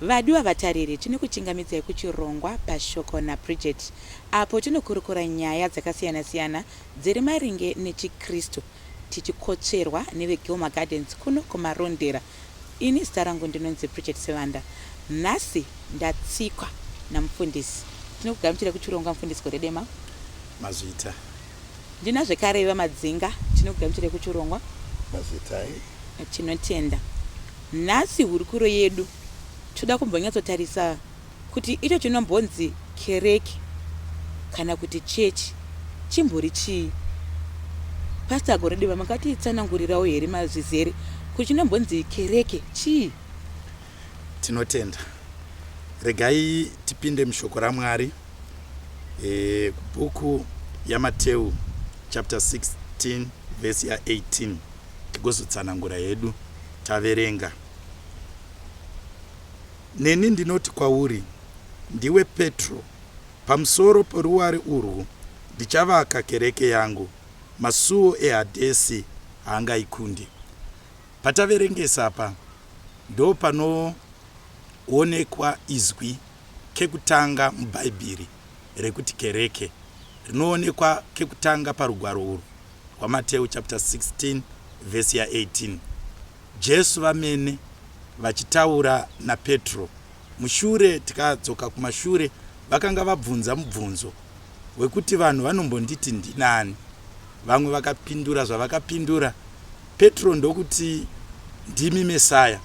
Vadiwa vatariri, tinokuchingamidzai kuchirongwa Pashoko naBridget apo tinokurukura nyaya dzakasiyana-siyana dziri maringe nechiKristu tichikotsverwa neveGilmar Gardens kuno kuMarondera. Ini zita rangu ndinonzi Bridget Sivanda. Nhasi ndatsikwa naMufundisi. Tinokugamuchirai kuchirongwa Mufundisi Goredema. Mazvita. Ndina zvekare vaMadzinga tinogamuchira kuchirongwa. Mazetai. Tinotenda. Nhasi hurukuro yedu toda kumbonyatsotarisa kuti icho chinombonzi kereke kana kuti chechi chimbori chii. Pastor Goredeva makatitsanangurirawo here mazvizere kuti chinombonzi kereke chii? Tinotenda. Regai tipinde mushoko raMwari. E, kubhuku yaMateu chapter 16 vhesi ya 18 tigozotsanangura hedu taverenga. Neni ndinoti kwauri, ndiwe Petro, pamusoro poruware urwu ndichavaka kereke yangu, masuwo eHadhesi haangaikundi. Pataverengesa apa ndopanoonekwa izwi kekutanga muBhaibheri rekuti kereke rinoonekwa kekutanga parugwaro urwu rwaMateu chapter 16 verse ya 18. Jesu vamene vachitaura naPetro mushure tikadzoka kumashure vakanga vabvunza mubvunzo wekuti vanhu vanombonditi ndinani. Vamwe vakapindura zvavakapindura Petro ndokuti ndimi Mesaya.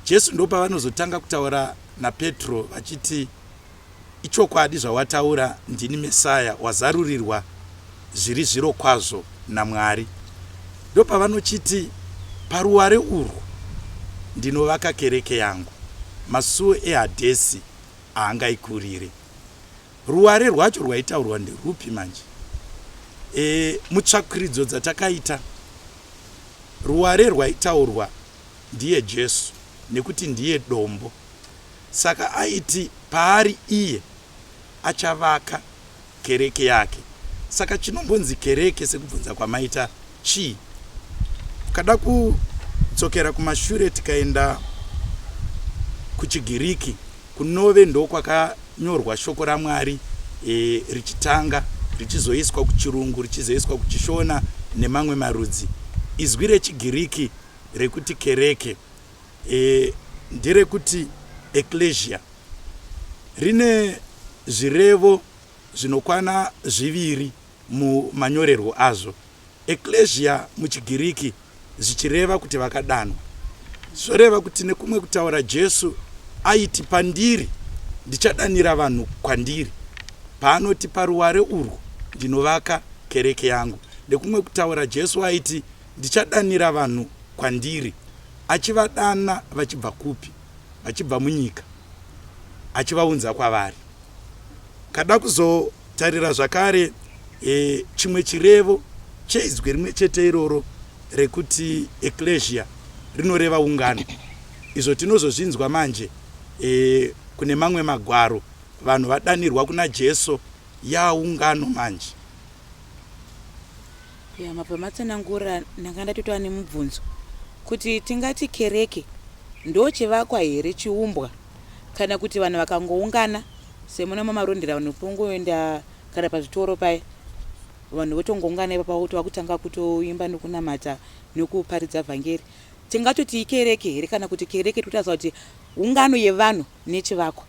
Jesu ndopavanozotanga kutaura naPetro vachiti, Ichokwadi zvawataura, ndini Messiah, wazarurirwa zviri zvirokwazvo naMwari. Ndopavanochiti, Paruware urwu ndinovaka kereke yangu, masuo eHadhesi haangaikurire. Ruware rwacho rwaitaurwa nderwupi manje? E, mutsvakiridzo dzatakaita, ruware rwaitaurwa ndiye Jesu nekuti ndiye dombo saka aiti paari iye achavaka kereke yake saka chinombonzi kereke sekubvunza kwamaita chii ukada kudzokera kumashure tikaenda kuchigiriki kunove ndokwakanyorwa shoko ramwari e, richitanga richizoiswa kuchirungu richizoiswa kuchishona nemamwe marudzi izwi rechigiriki rekuti kereke e, nderekuti eklesia rine zvirevo zvinokwana zviviri mumanyorerwo azvo eklesia muchigiriki zvichireva kuti vakadanwa zvoreva kuti nekumwe kutaura jesu aiti pandiri ndichadanira vanhu kwandiri paanoti paruware urwu ndinovaka kereke yangu nekumwe kutaura jesu aiti Ndichadanira vanhu kwandiri. Achivadana vachibva kupi? Vachibva munyika. Achivaunza kwavari. Kada kuzotarira zvakare e, chimwe chirevo cheizwi rimwe chete iroro rekuti eklesia rinoreva ungano. Izvo tinozozvinzwa manje e, kune mamwe magwaro vanhu vadanirwa kuna Jesu yaungano manje. ya mabva matsanangura ndanga ndatotova nemubvunzo kuti tingati kereke ndo chivakwa here chiumbwa kana kuti vanhu vakangoungana semuna mamarondera vanhu pongoenda kana pazvitoro paye vanhu votongoungana ipa pakuti vakutanga kutoimba nokunamata nokuparidza vhangeri tingatoti ikereke here kana kuti kereke totasa kuti ungano yevanhu nechivakwa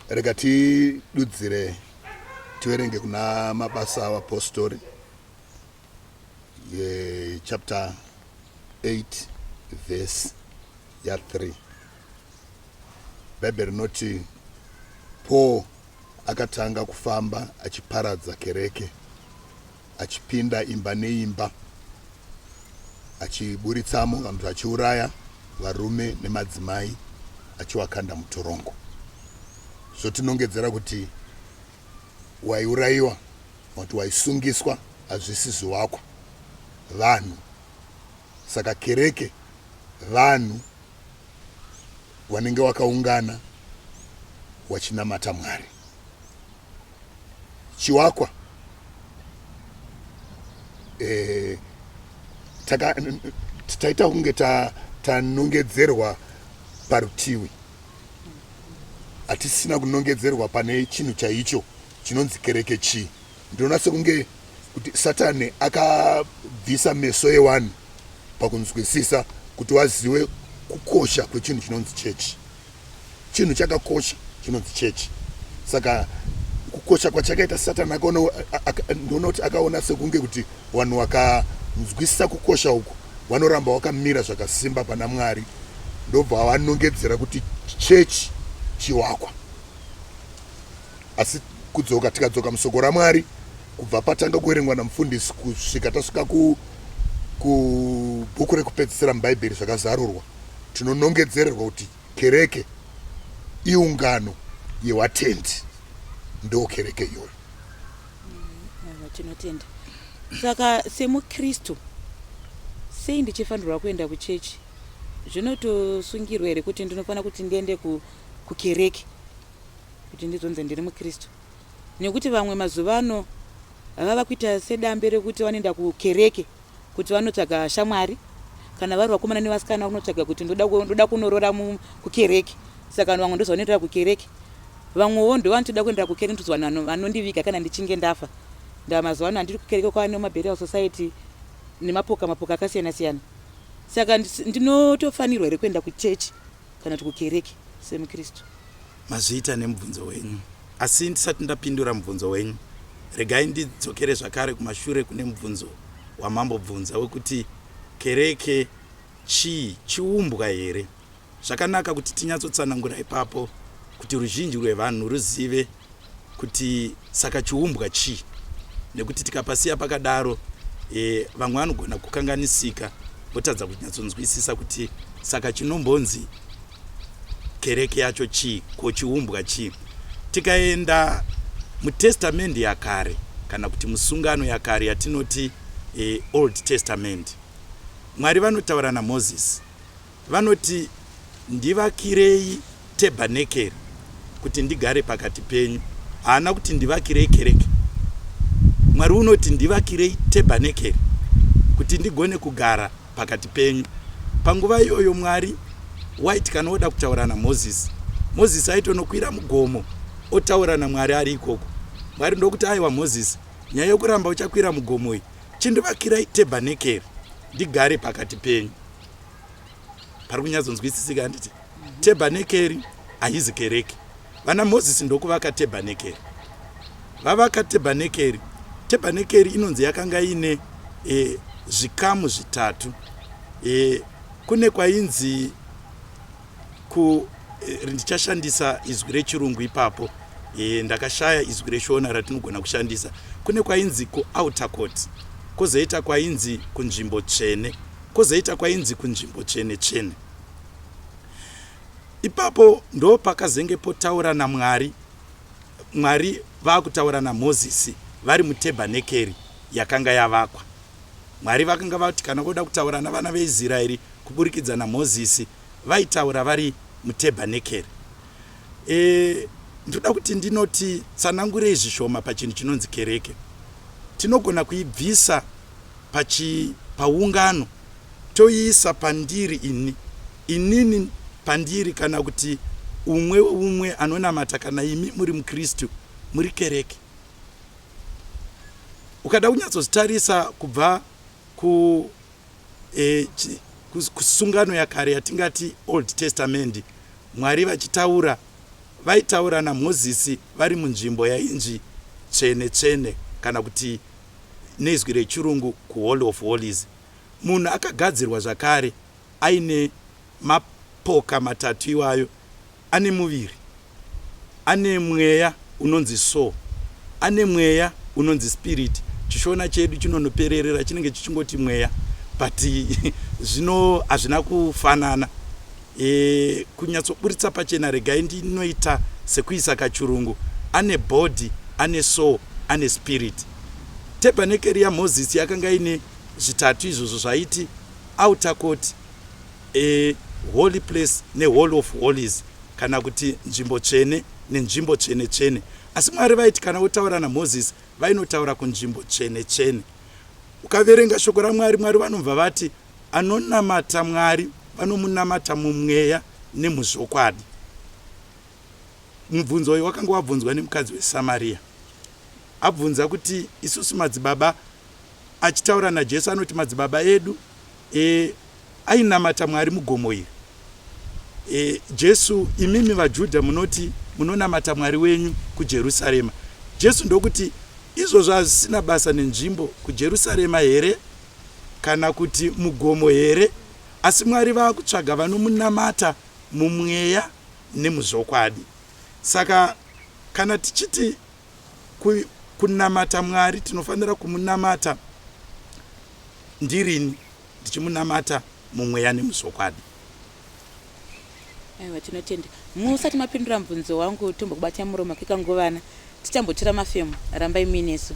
rega tidudzire tiverenge kuna mabasa avapostori chapter 8 verse ya 3 bhaibheri rinoti paul akatanga kufamba achiparadza kereke achipinda imba neimba achiburitsamo vanhu achiuraya varume nemadzimai achiwakanda mutorongo zvotinongedzera kuti waiurayiwa kuti waisungiswa hazvisi zviwakwa vanhu saka kereke vanhu wanenge wakaungana wachinamata mwari chiwakwa eh, taka taita kunge tanongedzerwa ta parutivi hatisina kunongedzerwa pane chinhu chaicho chinonzi kereke chii ndinoona sekunge kuti satani akabvisa meso ewanhu pakunzwisisa kuti wazive kukosha kwechinhu chinonzi chechi chinhu chakakosha chinonzi chechi saka kukosha kwachakaita satani akaona ndoona kuti akaona sekunge kuti vanhu wakanzwisisa kukosha uku vanoramba wakamira zvakasimba pana mwari ndobva vanongedzera kuti chechi chiwakwa asi kudzoka tikadzoka musoko ramwari kubva patanga kuverengwa namufundisi kusvika tasvika kubhuku rekupedzisira mubhaibheri zvakazarurwa tinonongedzererwa kuti kereke iungano yewatendi ndo kereke iyoyo mm, tinotenda saka semukristu sei ndichifanirwa kuenda kuchechi zvinotosungirwa here kuti ndinofanira kuti ndiende kukereke kuti ndizonzi ndiri mukristu nekuti vamwe mazuva ano vava kuita sedambe rekuti vanoenda kukereke kuti vanotsvaga shamwari kana vari vakomana nevasikana vanotsvaga kuti ndoda kunorora kukereke saka vanhu vamwe ndozvavanoendera kukereke vamwewo ndovanotoda kuendera kukereke ndototi vanhu vanondiviga kana ndichinge ndafa ndamazuva ano handiri kukereke kwava nemaburial society nemapoka mapoka akasiyana siyana saka ndinotofanirwa here kuenda kuchechi kana kuti kukereke semuKristu? Mazviita nemubvunzo wenyu. Asi ndisati ndapindura mubvunzo wenyu, regai ndidzokere zvakare kumashure kune mubvunzo wamambobvunza wekuti kereke chii, chiumbwa here? Zvakanaka kuti tinyatsotsanangura ipapo kuti ruzhinji rwevanhu ruzive kuti saka chiumbwa chii nekuti tikapasiya pakadaro e, vamwe vanogona kukanganisika votadza kunyatsonzwisisa kuti saka chinombonzi kereke yacho chii ko chiumbwa chii tikaenda mutestamendi yakare kana kuti musungano yakare yatinoti e, old testament mwari vanotaura namozisi Vanoti, Ndivakirei tebhanekeri kuti ndigare pakati penyu. Haana kuti, Ndivakirei kereke. Mwari unoti, Ndivakirei tebhanekeri kuti ndigone kugara pakati penyu. Panguva iyoyo Mwari waiti kana oda kutaura naMozisi, Mozisi aitonokwira mugomo otaura naMwari ari ikoko. Mwari ndokuti, Aiwa Mozisi, nyaya yokuramba uchakwira mugomo iyi, chindivakira itebhanekeri ndigare pakati penyu. pari kunyatsonzwisisika handiti tebhanekeri haizi kereke vana mozisi ndokuvaka tebhanekeri vavaka tebhanekeri tebhanekeri inonzi yakanga iine e, zvikamu zvitatu e, kune kwainzi Ko eh, ndichashandisa izwi rechirungu ipapo e, ndakashaya izwi reshona ratinogona kushandisa kune kwainzi kuouter court kozoita kwainzi kunzvimbo tsvene kozoita kwainzi kunzvimbo tsvene tsvene ipapo ndo pakazenge potaura namwari mwari vakutaura namozisi vari mutebanekeri yakanga yavakwa Mwari vakanga vati kana voda kutaura navana veIsraeri kuburikidza naMozisi, vaitaura vari mutebhanekeri. E, ndoda kuti ndinoti tsanangurei zvishoma pachinhu chinonzi kereke. Tinogona kuibvisa pachi, paungano toiisa pandiri ini, inini pandiri, kana kuti umwe umwe anonamata, kana imi muri muKristu, muri kereke. ukada kunyatsozitarisa kubva ku eh, kusungano yakare yatingati old testament mwari vachitaura vaitaura namozisi vari munzvimbo yainzi tsvene tsvene kana kuti nezwi rechirungu kuhall of hollies munhu akagadzirwa zvakare aine mapoka matatu iwayo ane muviri Ane mweya unonzi soul. Ane mweya unonzi spirit. Chishona chedu chinonopererera chinenge chichingoti mweya but zvino hazvina kufanana. E, kunyatsoburitsa pachena regai ndinoita sekuisa kachurungu. Ane body, ane soul, ane spirit. Tebhanekeri yaMozisi yakanga ine zvitatu izvozvo zvaiti outer court, A holy place neholy of holies kana kuti nzvimbo tsvene nenzvimbo tsvene tsvene asi mwari vaiti kana votaura namoses vainotaura kunzvimbo tsvene tsvene ukaverenga shoko ramwari mwari vanobva vati anonamata mwari vanomunamata mumweya nemuzvokwadi mubvunzo uyu wakanga wabvunzwa nemukadzi wesamariya abvunza kuti isusu madzibaba achitaura naJesu anoti madzibaba edu e, ainamata Mwari mugomo iri. E, Jesu, imimi vaJudha munoti munonamata Mwari wenyu kuJerusarema. Jesu ndokuti izvozvo hazvisina basa nenzvimbo kuJerusarema here kana kuti mugomo here, asi Mwari vakutsvaga vanomunamata mumweya nemuzvokwadi. Saka kana tichiti Ku, kunamata Mwari tinofanira kumunamata ndirini ndichimunamata mumweya nemuzvokwadi. Aiwa, tinotenda. Musati mapindura mubvunzo wangu, tombokubatai muromo kekanguvana, tichambotora mafemo. Rambai muinesu.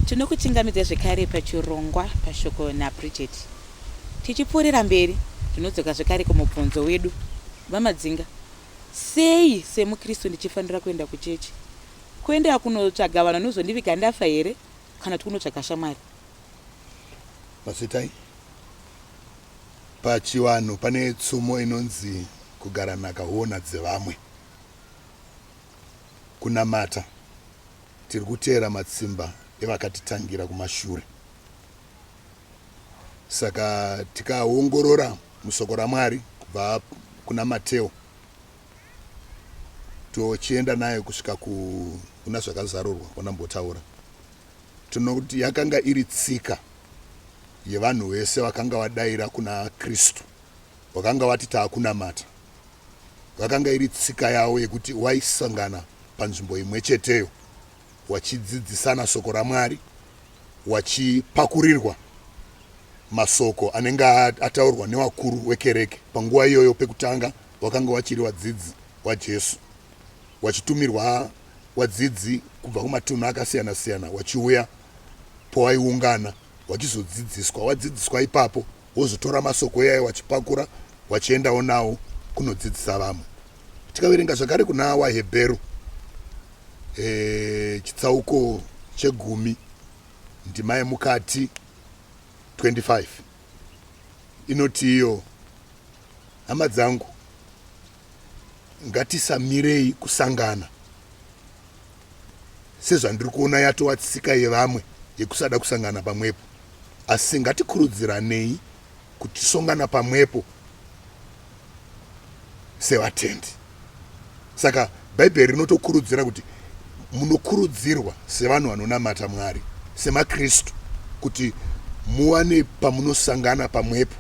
tinokuchingamidza zvekare pachirongwa pashoko nabridget tichipfuurira mberi tinodzoka zvekare kumubvunzo wedu vamadzinga sei semukristu ndichifanira kuenda kuchechi kuenda kunotsvaga vanhu vanozondiviga ndafa here kana kuti kunotsvaga shamwari Masetai pachivanhu pane tsumo inonzi kugara nhaka huona dzevamwe kunamata tiri kuteera matsimba evakatitangira kumashure saka tikaongorora musoko ramwari kubva kuna mateo tochienda naye kusvika kuna zvakazarurwa wanambotaura Tinoona kuti yakanga iri tsika yevanhu vese vakanga vadaira kuna Kristu, vakanga vati taakunamata. Vakanga iri tsika yavo yekuti waisangana panzvimbo imwe cheteyo wachidzidzisana soko raMwari, wachipakurirwa masoko anenge ataurwa newakuru wekereke panguva iyoyo pekutanga wakanga wachiri vadzidzi waJesu, wachitumirwa wadzidzi kubva kumatunhu akasiyana siyana wachiuya pawaiungana wachizodzidziswa wadzidziswa ipapo wozotora masoko iyayo wachipakura wachiendawo nawo kunodzidzisa vamwe tikaverenga zvakare kuna wahebheru e, chitsauko chegumi ndima yemukati 25 inoti iyo hama dzangu Ngatisamirei kusangana sezvandiri kuona yatova tsika yevamwe yekusada kusangana pamwepo, asi ngatikurudziranei kuti tisongana pamwepo sevatendi. Saka Bhaibheri rinotokurudzira kuti munokurudzirwa sevanhu vanonamata Mwari, semaKristu, kuti muwane pamunosangana pamwepo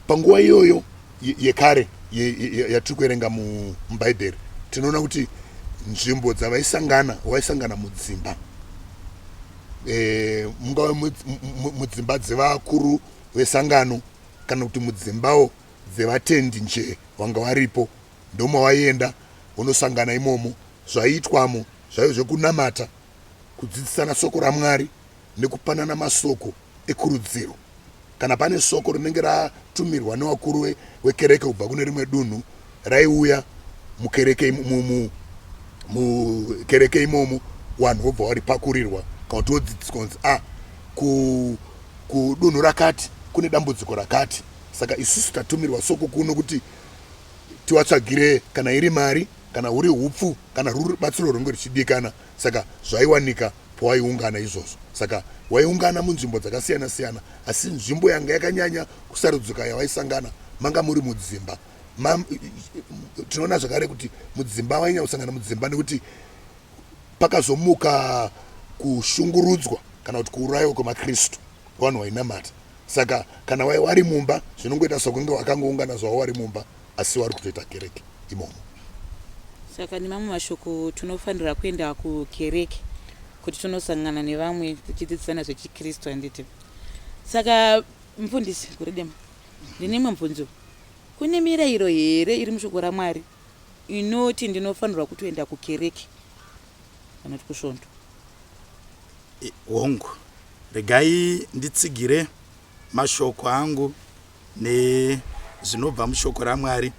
panguva iyoyo yekare yatiri kuerenga mubhaibheri tinoona kuti nzvimbo dzavaisangana vaisangana mudzimba e, mungave mudzimba dzevakuru vesangano kana kuti mudzimbawo dzevatendi nje vanga varipo ndomawaienda unosangana imomo zvaiitwamo zvaive zvekunamata kudzidzisana soko ramwari nekupanana masoko ekurudziro. Kana pane soko rinenge ratumirwa newakuru wekereke kubva kune rimwe dunhu raiuya mukereke mukereke imomo vanhu vobva varipakurirwa kana kuti vodzidziswa kunzi a ah, kudunhu rakati kune dambudziko rakati saka isusu tatumirwa soko kuno kuti tiwatsvagire kana iri mari kana huri upfu kana ruri batsiro runge ruchidikana saka zvaiwanika pawaiungana izvozvo. Saka waiungana munzvimbo dzakasiyana siyana, asi nzvimbo yanga yakanyanya kusarudzika yawaisangana manga muri mudzimba. Ma, tinoona zvakare kuti mudzimba wainyanya kusangana mudzimba nekuti pakazomuka kushungurudzwa kana kuti kuurayiwa kwemakristu vanhu wainamata saka kana wai wari mumba zvinongoita sokunge wakangoungana zvawo wari mumba asi vari kutoita kereke imomo saka nemamwe mashoko tinofanira kuenda kukereke kuti tinosangana nevamwe tichidzidzisana zvechikristu handiti saka mfundisi guredema ndine imwe mvunzo kune mirayiro here iri mushoko ramwari inoti ndinofanirwa kutoenda kukereke anoti kusvondo hongu regai nditsigire mashoko angu nezvinobva mushoko raMwari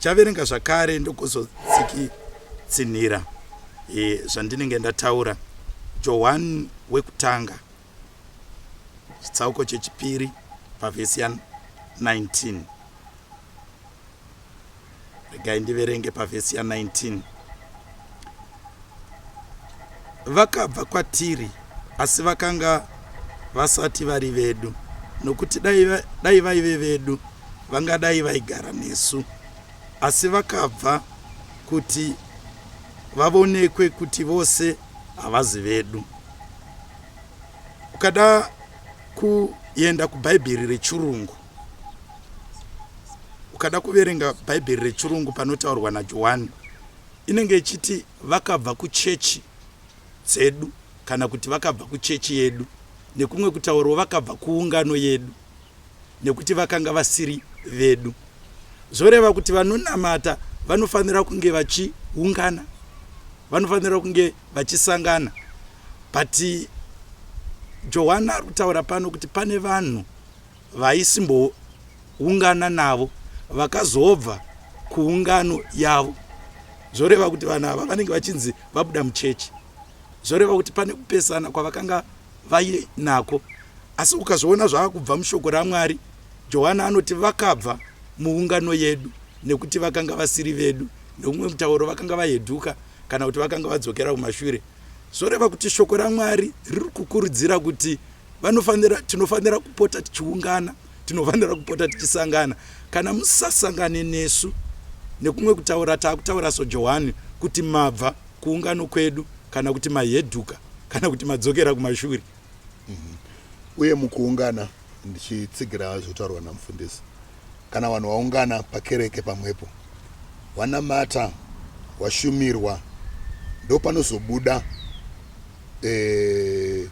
chaverenga zvakare ndokuzotsikitsinhira e, zvandinenge ndataura johani wekutanga chitsauko chechipiri pavhesi ya 19 regai ndiverenge pavhesi ya 19 vakabva kwatiri asi vakanga vasati vari vedu nokuti dai vaive vedu vangadai vaigara nesu asi vakabva kuti vavonekwe kuti vose havazi vedu ukada kuenda kubhaibheri rechirungu ukada kuverenga bhaibheri rechirungu panotaurwa najohani inenge ichiti vakabva kuchechi dzedu kana kuti vakabva kuchechi yedu nekumwe kutaurwa vakabva kuungano yedu nekuti vakanga vasiri vedu zvoreva kuti vanonamata vanofanira kunge vachiungana vanofanira kunge vachisangana but johani ari kutaura pano kuti pane vanhu vaisimboungana navo vakazobva kuungano yavo zvoreva kuti vanhu ava vanenge vachinzi vabuda muchechi zvoreva kuti pane kupesana kwavakanga vainako asi ukazviona zvava kubva mushoko ramwari johani anoti vakabva muungano yedu nekuti vakanga vasiri vedu neumwe mutauro vakanga vaheduka kana kuti vakanga vadzokera kumashure zvoreva kuti shoko ramwari riri kukurudzira kuti vanofanira tinofanira kupota tichiungana tinofanira kupota tichisangana kana musasangane nesu nekumwe kutaura taakutaura sojohani kuti mabva kuungano kwedu kana kuti maheduka kana kuti madzokera kumashuri mm -hmm. uye mukuungana ndichitsigira zvotaurwa namufundisi Kana vanhu vaungana pakereke pamwepo, wanamata, washumirwa, ndopanozobuda eh,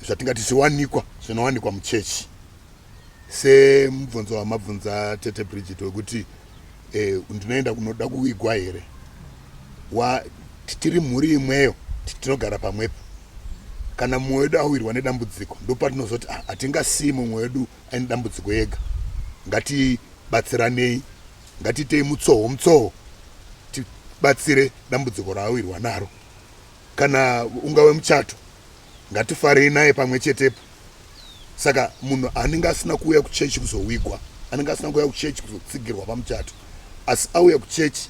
zvatingati zviwanikwa zvinowanikwa muchechi semubvunzo wamabvunza tete bridget wekuti eh, ndinoenda kunoda kuigwa here wa tiri mhuri imweyo tinogara pamwepo kana mumwe wedu awirwa nedambudziko ndopatinozoti ah, hatingasii mumwe wedu aine dambudziko ega ngatibatsiranei ngatiitei mutsoho mutsoho tibatsire dambudziko raawirwa naro kana ungave muchato ngatifarei naye pamwe chetepo saka munhu anenge asina kuuya kuchechi kuzowigwa anenge asina kuuya kuchechi kuzotsigirwa pamuchato asi auya kuchechi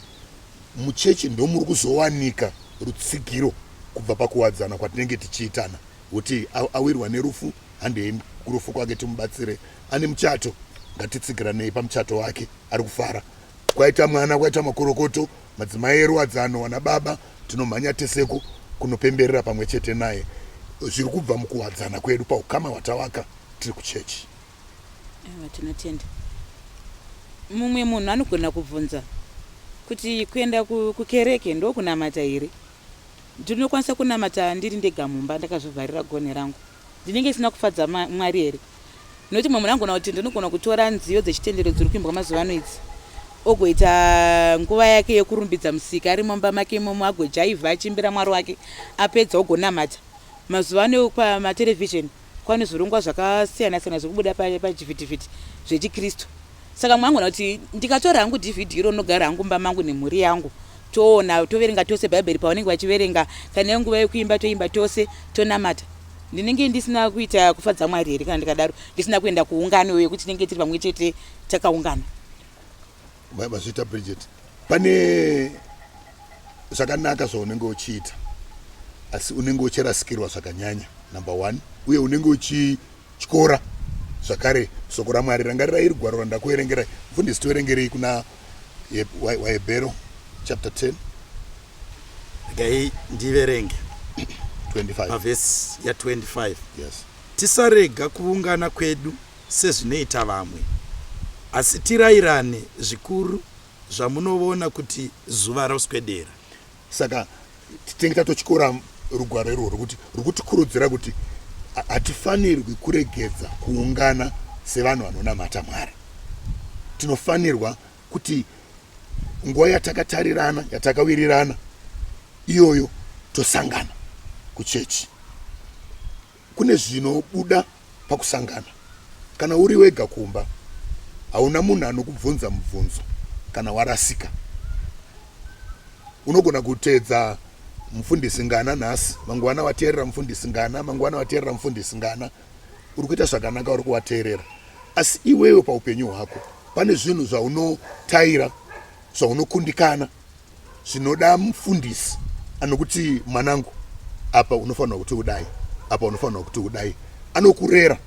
muchechi ndomuri kuzowanika rutsigiro kubva pakuwadzana kwatinenge tichiitana Kuti awirwa nerufu handei kurufu kwake timubatsire ane muchato ngatitsigiranei pamuchato wake ari kufara kwaita mwana kwaita makorokoto madzimai eruwadzano wana baba tinomhanya teseku kunopemberera pamwe chete naye zviri kubva mukuwadzana kwedu paukama hwatawaka tiri kuchechi tinotenda mumwe munhu anogona kubvunza kuti kuenda kukereke ndokunamata here Ndinokwanisa kunamata ndiri ndega mumba ndakazvivharira gonhi rangu? Ndinenge ndisina kufadza Mwari here? Nokuti mumwe munhu anogona kuti ndinogona kutora nziyo dzechitendero dziri kuimbwa mazuva ano idzi ogoita nguva yake yekurumbidza musika ari mumba make imomo agojaivha achiimbira mwari wake apedza ogonamata mazuva ano pamatelevhizheni Kwane zvirongwa zvakasiyana siyana zvekubuda pachivhitivhiti zvechiKristu. Saka mwangu na kuti ndikatora hangu DVD iro nogara hangu mba mangu nemhuri yangu toona toverenga tose Bhaibheri pavanenge vachiverenga kana iyo nguva yekuimba toimba tose tonamata. Ndinenge ndisina kuita kufadza Mwari here kana ndikadaro ndisina kuenda kuungano yekuti tinenge tiri pamwe chete takaungana. mazvita Bridget pane zvakanaka zvaunenge uchiita asi unenge uchirasikirwa zvakanyanya number one uye unenge uchityora zvakare soko ramwari rangarira iri gwaro randakuerengerai mfundisi toerengerei kuna wahebhero chapter 10 gai ndiverenge 25 pavhesi ya25 yes tisarega kuungana kwedu sezvinoita vamwe asi tirairane zvikuru zvamunovona kuti zuva roswedera. Saka tinenge tatotyora rugwaro irworwo kuti rwukutikurudzira kuti hatifanirwi kuregedza kuungana sevanhu vanonamata Mwari. Tinofanirwa kuti nguva yatakatarirana, yatakawirirana iyoyo tosangana kuchechi. Kune zvinobuda pakusangana. Kana uri wega kumba, hauna munhu anokubvunza mubvunzo kana warasika. Unogona kuteedza mufundisi ngana nhasi, mangwana wateerera mufundisi ngana, mangwana wateerera mufundisi ngana. Uri kuita zvakanaka, uri kuwateerera. Asi iwewe paupenyu hwako, pane zvinhu zvaunotaira, zvaunokundikana, zvinoda mufundisi anokuti mwanangu apa unofanirwa kuti udai apa unofanirwa kuti udai anokurera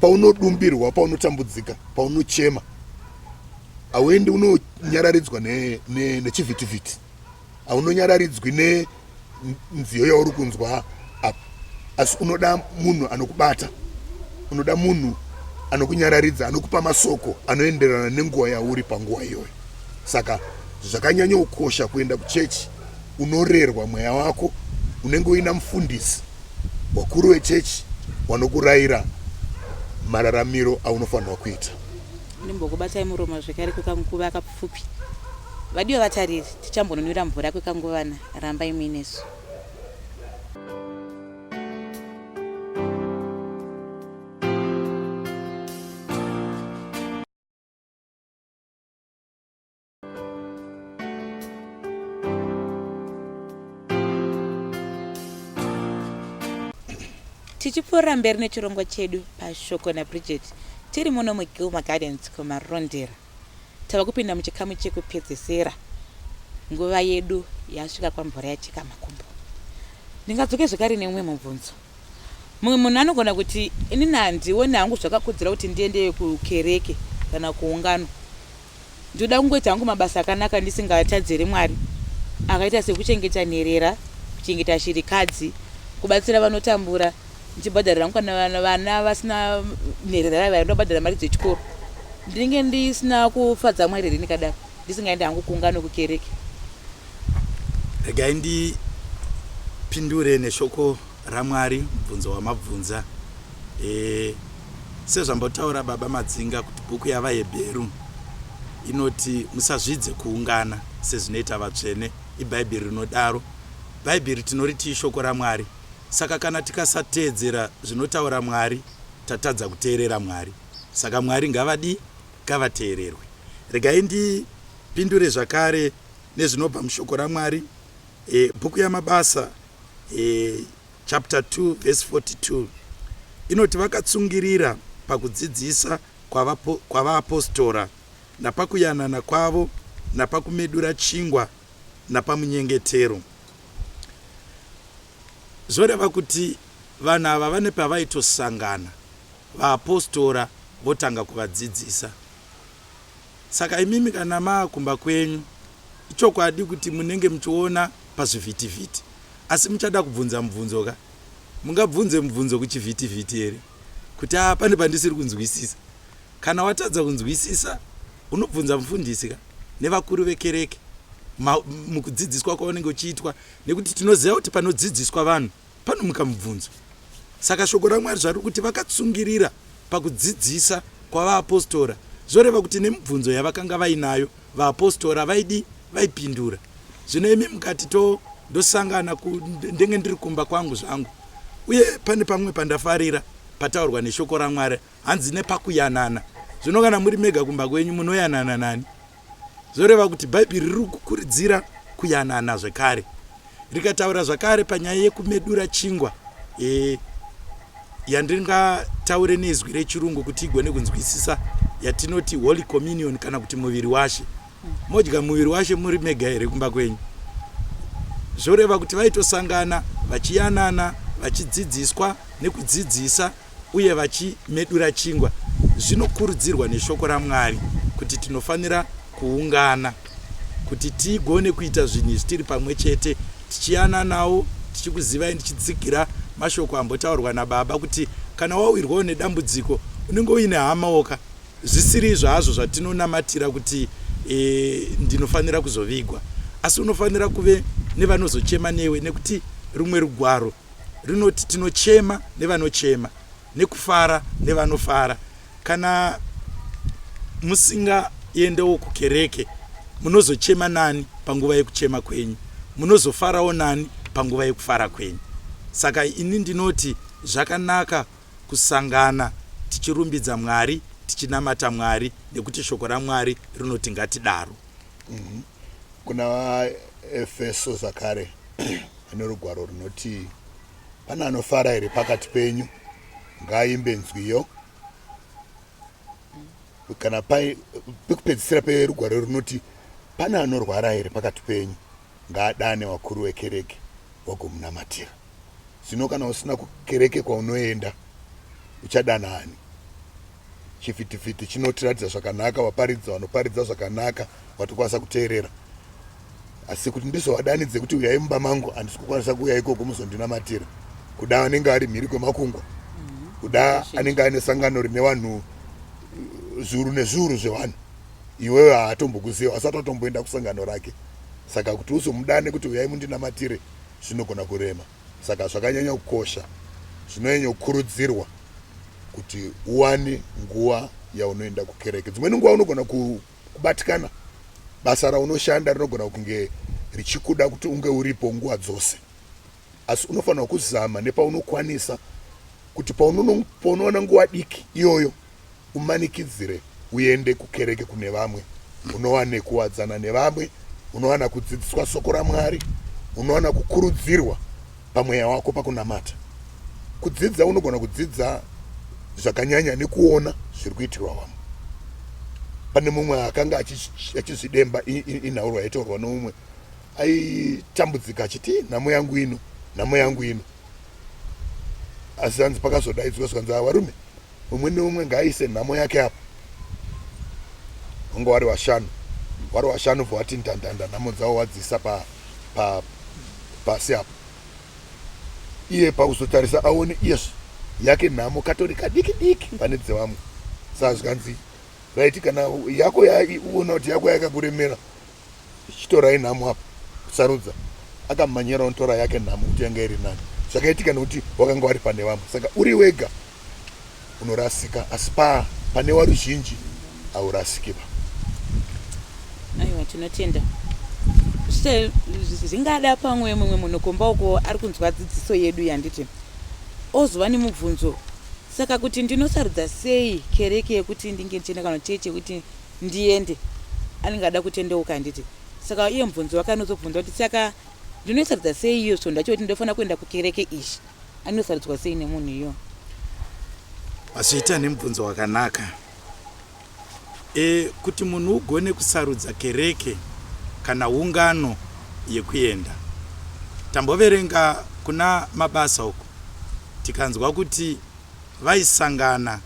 paunodumbirwa paunotambudzika paunochema hauendi unonyararidzwa nechivhitivhiti ne, ne haunonyararidzwi ne nziyo yauri kunzwa apa asi unoda munhu anokubata unoda munhu anokunyararidza anokupa masoko anoenderana nenguva yauri panguva iyoyo saka zvakanyanyokosha kuenda kuchechi unorerwa mweya wako unenge uina mufundisi wakuru wechechi wanokurayira mararamiro aunofanirwa kuita ndimbokubatai muromo zvekare kwekanguva kapfupi vadiwe vatariri Tichambonunura mvura kwekanguvana, rambai muinesu. tichipfuurira mberi nechirongwa chedu pashoko nabridget tiri muno mugilma gardens kumarondera Tava kupinda muchikamu chekupedzesera. Nguva yedu yasvika kwamvura yacheka makumbo. Ndingadzoke zvekare neumwe mubvunzo. Mumwe munhu anogona kuti, inini handione hangu zvakakodzera kuti ndiende kukereke kana kuungano. Ndinoda kungoita hangu mabasa akanaka ndisingatadziri Mwari, akaita sekuchengeta nherera, kuchengeta shirikadzi, kubatsira vanotambura, ndichibhadharira mukana vana vasina nherera vaiva ndobhadhara mari dzechikoro ndinenge ndisina kufadza mwari here ndikadaro ndisingaendi hangu kunga nokukereke regai ndipindure neshoko ramwari mubvunzo wamabvunza e, sezvambotaura baba madzinga kuti bhuku yavahebheru inoti musazvidze kuungana sezvinoita vatsvene ibhaibheri rinodaro bhaibheri tinoriti ishoko ramwari Saka kana tikasateedzera zvinotaura Mwari tatadza kuteerera Mwari. Saka Mwari ngavadii? Ngavateererwe. Regai ndipindure zvakare nezvinobva mushoko raMwari. E, bhuku yaMabasa e, chapter 2 verse 42 inoti vakatsungirira pakudzidzisa kwavaapostora napakuyanana kwavo napakumedura chingwa napamunyengetero. Zvoreva kuti vanhu ava vane pavaitosangana vaapostora votanga kuvadzidzisa. Saka imimi kana maa kumba kwenyu, ichokwadi kuti munenge muchiona pazvivhitivhiti. Asi muchada kubvunza mubvunzo ka? Mungabvunze mubvunzo kuchivhitivhiti here? kuti aa pane pandisiri kunzwisisa kana watadza kunzwisisa unobvunza mufundisi ka nevakuru vekereke mukudzidziswa kwaunenge uchiitwa nekuti tinoziva kuti panodzidziswa vanhu panomuka mubvunzo saka shoko ramwari zvari kuti vakatsungirira pakudzidzisa kwavaapostora zvoreva kuti nemibvunzo yavakanga vainayo vaapostora vaidi vaipindura zvino imi mukati to ndosangana ndenge ndiri kumba kwangu zvangu uye pane pamwe pandafarira pataurwa neshoko ramwari hanzi nepakuyanana zvino kana muri mega kumba kwenyu munoyanana nani zvoreva kuti bhaibheri riri kukuridzira kuyanana zvekare rikataura zvakare panyaya yekumedura chingwa e, yandingataure nezwi rechirungu kuti igone kunzwisisa yatinoti holy communion kana kuti muviri washe modya muviri washe muri mega here kumba kwenyu zvoreva kuti vaitosangana vachiyanana vachidzidziswa nekudzidzisa uye vachimedura chingwa zvinokurudzirwa neshoko raMwari kuti tinofanira kuungana kuti tigone kuita zvinhu izvi tiri pamwe chete tichiyananawo tichikuzivai ndichitsigira mashoko ambotaurwa nababa kuti kana wawirwawo nedambudziko unenge uine hamaoka zvisiri izvo hazvo zvatinonamatira kuti e, ndinofanira kuzovigwa asi unofanira kuve nevanozochema newe nekuti rumwe rugwaro rinoti tinochema nevanochema nekufara nevanofara kana musingaendewo kukereke munozochema nani panguva yekuchema kwenyu munozofarawo nani panguva yekufara kwenyu saka ini ndinoti zvakanaka kusangana tichirumbidza mwari tichinamata mwari nekuti shoko ramwari rinoti ngatidaro mm -hmm. kuna vaefeso zvakare Pane rugwaro runoti pane anofara here pakati penyu ngaaimbe nzwiyo kana pekupedzisira perugwaro runoti pane anorwara here pakati penyu ngaadane wakuru wekereke wagomunamatira zvino kana usina kukereke kwaunoenda uchadana ani chifitifitti chinotiratidza zvakanaka vaparidzi vanoparidza zvakanaka vatokwanisa kuteerera asi kuti ndizovadanidze kuti uyai mumba mangu handisi kukwanisa kuuya ikoko muzondinamatira kuda anenge ari mhiri kwemakungwa mhm. kuda anenge aine sangano rine vanhu zviuru nezviuru zvevanhu iwewe haatombokuziva asati atomboenda kusangano rake saka kuti uzomudane kuti uyai mundinamatire zvinogona kurema saka zvakanyanya kukosha zvinonyanya kukurudzirwa kuti uwane nguva yaunoenda kukereke dzimweni nguva unogona ku Kubatikana basa raunoshanda rinogona kunge richikuda kuti unge uripo nguva dzose, asi unofanirwa kuzama nepaunokwanisa kuti paunoona nguva diki iyoyo umanikidzire uende kukereke kune vamwe, unowane kuwadzana nevamwe, unowana kudzidziswa soko raMwari, unowana kukurudzirwa pamweya wako pakunamata. Kudzidza unogona kudzidza zvakanyanya nekuona zviri kuitirwa vamwe. Pane mumwe akanga achizvidemba inhaurwa yaitaurwa noumwe aitambudzika achiti nhamo yangu ino nhamo yangu ino asi hanzi pakazodaidzwa zvikanzi varume umwe neumwe ngaaise nhamo yake apa vanga wari vashanu wari vashanu bva wati ndandanda nhamo dzavo wadzisa pa, pa, pasi apa iye pakuzotarisa aone yes yake nhamo katori kadiki diki pane dzevamwe saa zvikanzi raiti kana yako yaiona kuti yako yakakuremera chitorai nhamo apa sarudza akamanyira onotora yake nhamo kuti yanga iri nani zvakaitika nekuti wakanga wari pane vamwe saka uri wega unorasika asi pa pane waruzhinji haurasiki va aiwa tinotenda zvingada pamwe mumwe munhu kumba uko ari kunzwa dzidziso yedu yanditi ozova nemubvunzo saka kuti ndinosarudza sei kereke yekuti ndinge ndichienda kana chechi yekuti ndiende anenge ada kutendeuka handiti saka iye mubvunzo wake anozobvunza kuti saka ndinoisarudza sei iyo svondo yacho kuti ndofanira kuenda kukereke ishi anosarudzwa sei nemunhu iyo mazviita nemubvunzo wakanaka e, kuti munhu ugone kusarudza kereke kana ungano yekuenda tamboverenga kuna mabasa uku tikanzwa kuti vaisangana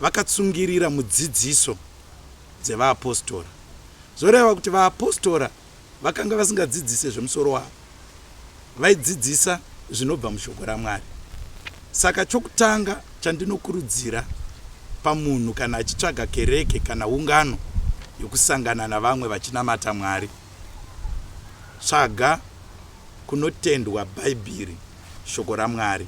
vakatsungirira mudzidziso dzevaapostora. Zvoreva kuti vaapostora vakanga vasingadzidzise zvemusoro wavo, vaidzidzisa zvinobva mushoko raMwari. Saka chokutanga chandinokurudzira pamunhu kana achitsvaga kereke kana ungano yokusangana navamwe vachinamata Mwari, tsvaga kunotendwa Bhaibheri, shoko raMwari.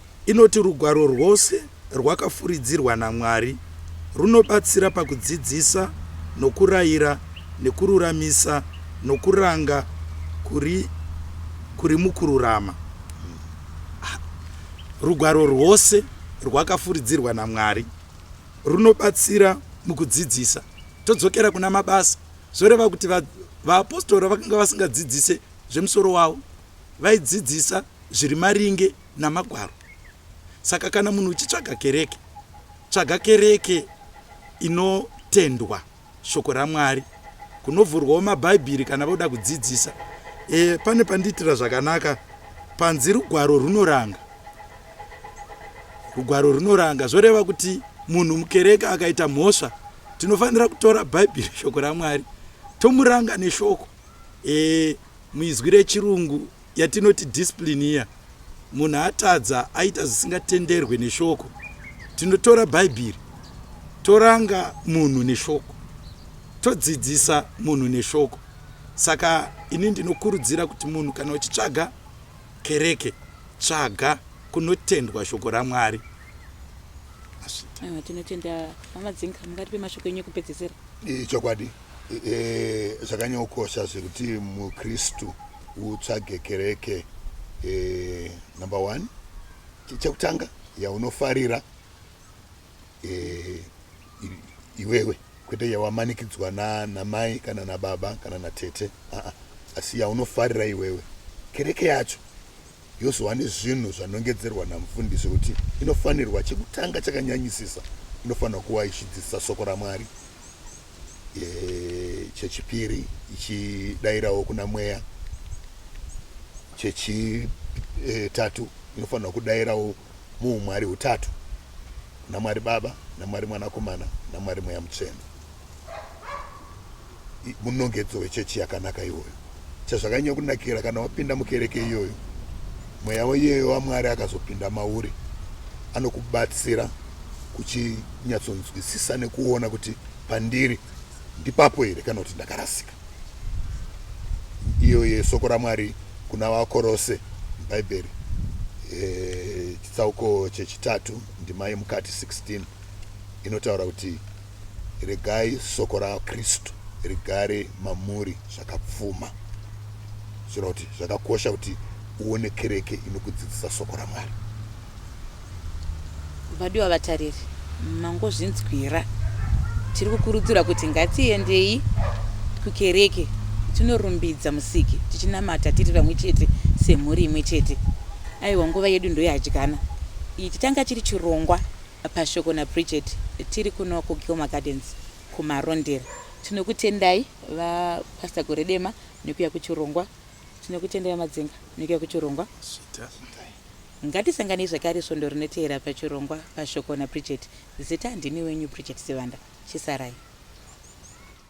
Inoti rugwaro rwose rwakafuridzirwa naMwari runobatsira pakudzidzisa nokuraira nekururamisa nokuranga kuri kuri mukururama. Rugwaro rwose rwakafuridzirwa naMwari runobatsira mukudzidzisa. Todzokera kuna mabasa. Zvoreva kuti va- vaapostora vakanga vasingadzidzise zvemusoro wavo, vaidzidzisa zviri maringe naMagwaro. Saka kana munhu uchitsvaga kereke, tsvaga kereke inotendwa shoko raMwari, kunovhurwawo maBhaibhiri kana voda kudzidzisa. E, pane pandiitira zvakanaka panzi rugwaro runoranga. Rugwaro runoranga zvoreva kuti munhu mukereke akaita mhosva, tinofanira kutora Bhaibhiri shoko raMwari tomuranga neshoko. E, Muizwi rechirungu yatinoti discipline iya, munhu atadza aita zvisingatenderwe neshoko, tinotora Bhaibheri toranga munhu neshoko, todzidzisa munhu neshoko. Saka ini ndinokurudzira kuti munhu kana uchitsvaga kereke, tsvaga kunotendwa shoko raMwari. Tinotenda hama dzinga, mungatipe mashoko enyu ekupedzesera. Ichokwadi. E, zvakanyokosha zvekuti mukristu utsvage kereke e, number one chekutanga yaunofarira e, iwewe kwete yawamanikidzwa namai kana nababa kana natete aa asi yaunofarira iwewe kereke yacho yozova nezvinhu zvanongedzerwa namufundisi kuti inofanirwa chekutanga chakanyanyisisa inofanirwa kuwa ichidzidzisa soko ramwari chechipiri ichidairawo kuna mweya chechitatu inofanirwa kudairawo muumwari hutatu kuna mwari baba namwari mwanakomana namwari mweya mutsvene munongedzo wechechi yakanaka iwoyo Chazvakanyanya kunakira kana wapinda mukereke iyoyo, mweya waiyeyo waMwari akazopinda mauri anokubatsira kuchinyatsonzwisisa nekuona kuti pandiri ndipapo here kana kuti ndakarasika. Iyo yesoko raMwari kuna vakorose mubhaibheri eh, chitsauko chechitatu ndima yemukati 16 inotaura kuti regai soko raKristu rigare mamuri zvakapfuma. Zvira kuti zvakakosha kuti uone kereke inokudzidzisa soko raMwari. Vadiwa vatariri, mangozvinzwira. Tiri kukurudzira kuti ngatiendei kukereke tinorumbidza musiki tichinamata tiri vamwe chete semhuri imwe chete aiwa nguva yedu ndoyadyana ichi changa chiri chirongwa Pashoko naBridget tiri kuno kuGilmore Gardens kuMarondera. Tinokutendai vaPastor Goredema nekuya kuchirongwa. Tinokutendai vaMadzenga nekuya kuchirongwa. Ngatisanganei zvakare svondo rinoteera pachirongwa Pashoko naBridget. Zita ndini wenyu Bridget Sivanda. Chisarai.